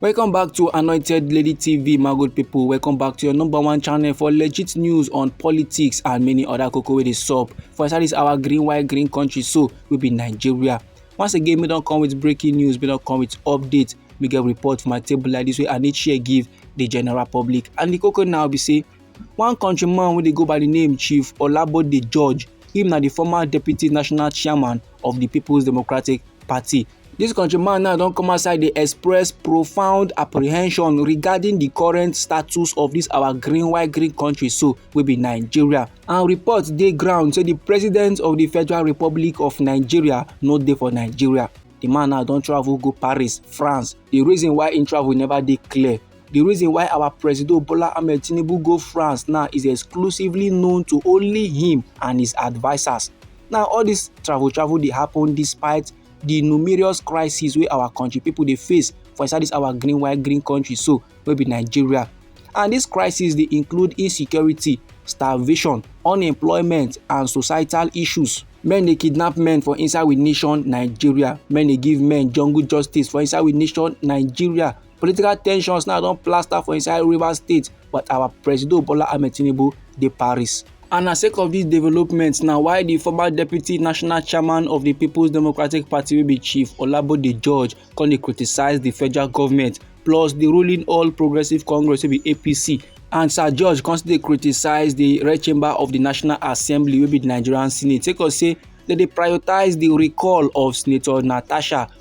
welcome back to anointed lady tv my good people welcome back to your number one channel for legit news on politics and many other cocoa wey dey sup for inside this our green white green country so we be nigeria once again we don't come with breaking news we don't come with updates. we get report for my table like this way and each year give the general public and the cocoa now be say one countryman wey dey go by the name chief olabode george him na the former deputy national chairman of the People's Democratic Party. This countryman now don come outside dey express profound apprehension regarding the current status of this our green white green country so wey be Nigeria. And reports dey ground say the president of the Federal Republic of Nigeria no dey for Nigeria. The man now don travel go Paris, France. The reason why he travel never dey clear. The reason why our President Bola Ahmed Tinubu go France now is exclusively known to only him and his advisers. Now all this travel travel dey happen despite the numerous crises wey our country people dey face for inside this our green white green country so wey be Nigeria. And these crises dey include insecurity, starvation, unemployment and societal issues. men dey kidnap men for inside we nation nigeria men dey give men jungle justice for inside we nation nigeria Political tensions now don plaster for inside Rivers State, but our Presido Bola Ahmed Tinubu dey Paris. And na sake of dis development na why di former deputy national chairman of di People's Democratic Party wey be Chief Olabode George come dey criticise di federal government plus di ruling All Progressives Congress wey be APC and sir george come still dey criticise di red chamber of di national assembly wey be di nigerian senate sake of say dem dey prioritise di recall of senator natasha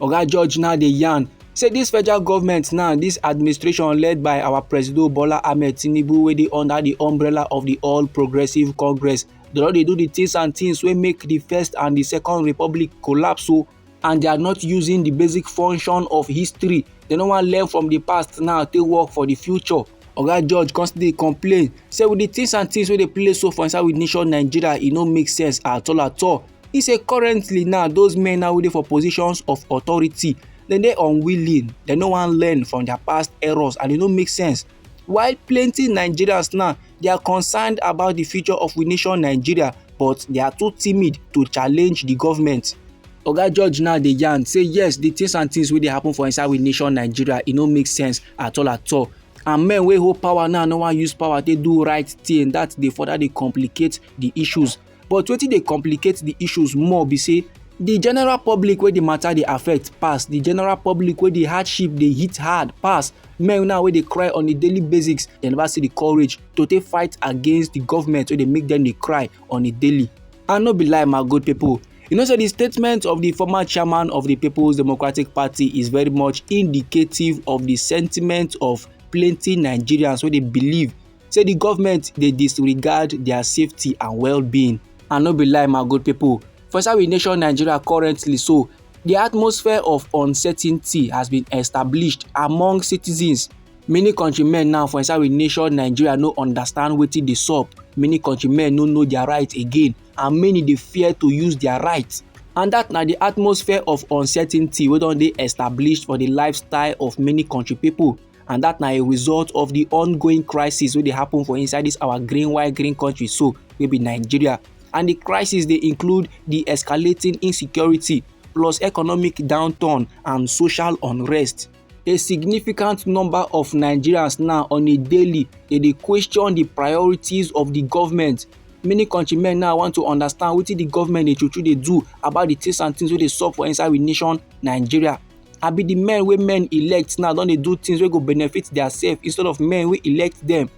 Oga George now dey yarn say this federal government now this administration led by our president Bola Ahmed Tinubu wey dey under the umbrella of the All Progressive Congress they don dey do the things and things wey make the first and the second republic collapse o oh, and they are not using the basic function of history they no wan learn from the past now take work for the future Oga George come still dey complain say with the things and things wey dey play so for inside with nation Nigeria e no make sense at all at all. He say currently now those men now wey dey for positions of authority dem dey unwilling dem no wan learn from their past errors and e no make sense while plenty Nigerians now they are concerned about the future of with nation Nigeria but they are too timid to challenge the government. oga george now dey yarn say yes the things and things wey dey happen for inside we nation nigeria e no make sense at all at all and men wey hold power now no wan use power take do right thing that dey further dey complicate the issues but wetin dey complicate the issues more be say the general public wey the matter dey affect pass the general public wey the hardship dey hit hard pass men now wey dey cry on a daily basis dem never see the courage to take fight against the government wey dey make them dey cry on a daily and no be lie my good people you know say the statement of the former chairman of the people's democratic party is very much indicative of the sentiment of plenty nigerians wey dey believe say the government dey disregard their safety and well-being and no be lie my good people for inside we nation nigeria currently so the atmosphere of uncertainty has been established among citizens many country men now for inside we nation nigeria no understand wetin dey sup many country men no know their rights again and many dey fear to use their rights and that na the atmosphere of uncertainty wey don dey established for the lifestyle of many country people and that na a result of the ongoing crisis wey dey happen for inside this our green white green country so wey be nigeria and the crisis dey include the escalating insecurity plus economic downturn and social unrest a significant number of nigerians now on a daily dey dey question di priorities of di government many countrymen now want to understand wetin di government dey true true dey do about di things and things wey dey sup for inside we nation nigeria abi di men wey men elect now don dey do things wey go benefit their self instead of men wey elect them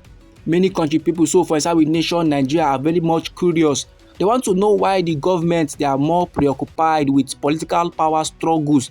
many country people so for inside we nation nigeria are very much curious they want to know why the government they are more preoccupied with political power struggles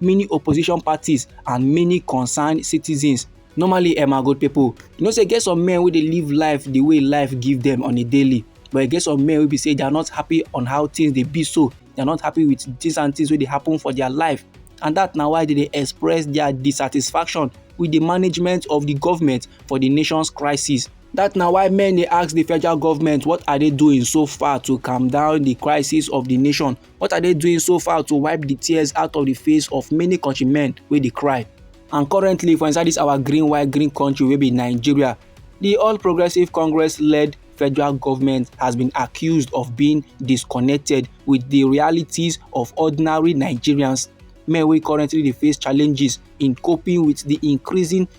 many opposition parties and many concerned citizens normally eh my good people you know say get some men wey dey live life the way life give them on a daily but e get some men wey be say they are not happy on how things dey be so they are not happy with things and things wey dey happen for their life and that na why they dey express their dissatisfaction with the management of the government for the nation's crisis That na why many ask the federal government what are they doing so far to calm down the crisis of the nation What are they doing so far to wipe the tears out of the face of many countrymen wey dey cry? And currently for inside this our green white green country wey be Nigeria, the All Progressive Congress led federal government has been accused of being disconnected with the realities of ordinary Nigerians, men wey currently dey face challenges in coping with the increasing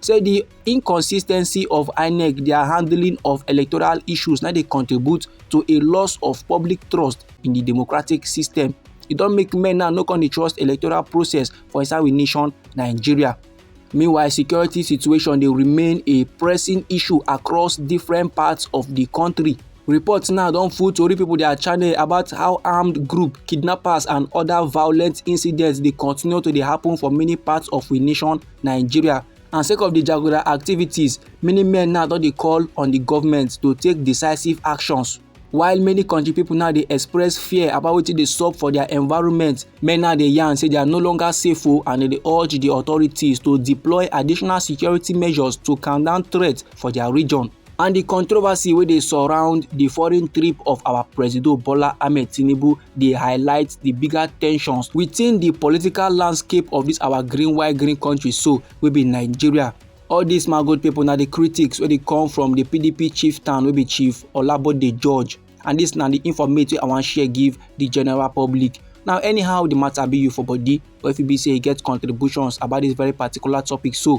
say di inconsistency of inec dia handling of electoral issues na dey contribute to a loss of public trust in di democratic system e don make men now no come dey trust electoral process for inside we nation nigeria meanwhile security situation dey remain a pressing issue across different parts of di country reports now don full tori pipo dia channel about how armed group kidnappers and oda violent incidents dey continue to dey happen for many parts of we nation nigeria and sake of di jaguda activities many men now don dey call on di government to take decisive actions while many country people now dey express fear about wetin dey sup for their environment men now dey yarn say they are no longer safe o oh, and they dey urge the authorities to deploy additional security measures to calm down threats for their region and di controversy wey dey surround di foreign trip of our presido bola ahmed tinubu dey highlight di bigger tensions within di political landscape of dis our green white green country so wey be nigeria all dis magold pipo na di critics wey dey come from di pdp chief town wey be chief olabode george and dis na di informate wey i wan share give di general public now anyhow di matter be you for body or if e be say you get contributions about dis very particular topic so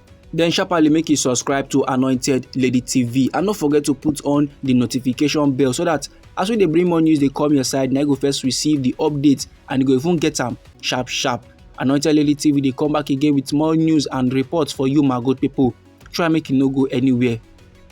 Then sharply make you subscribe to Anointed Lady TV and don't forget to put on the notification bell so that as we dey bring more news dey come your side na you go first receive the update and you go even get am sharp sharp. Anointed Lady TV dey come back again with more news and reports for you my good people. Try make you no go anywhere.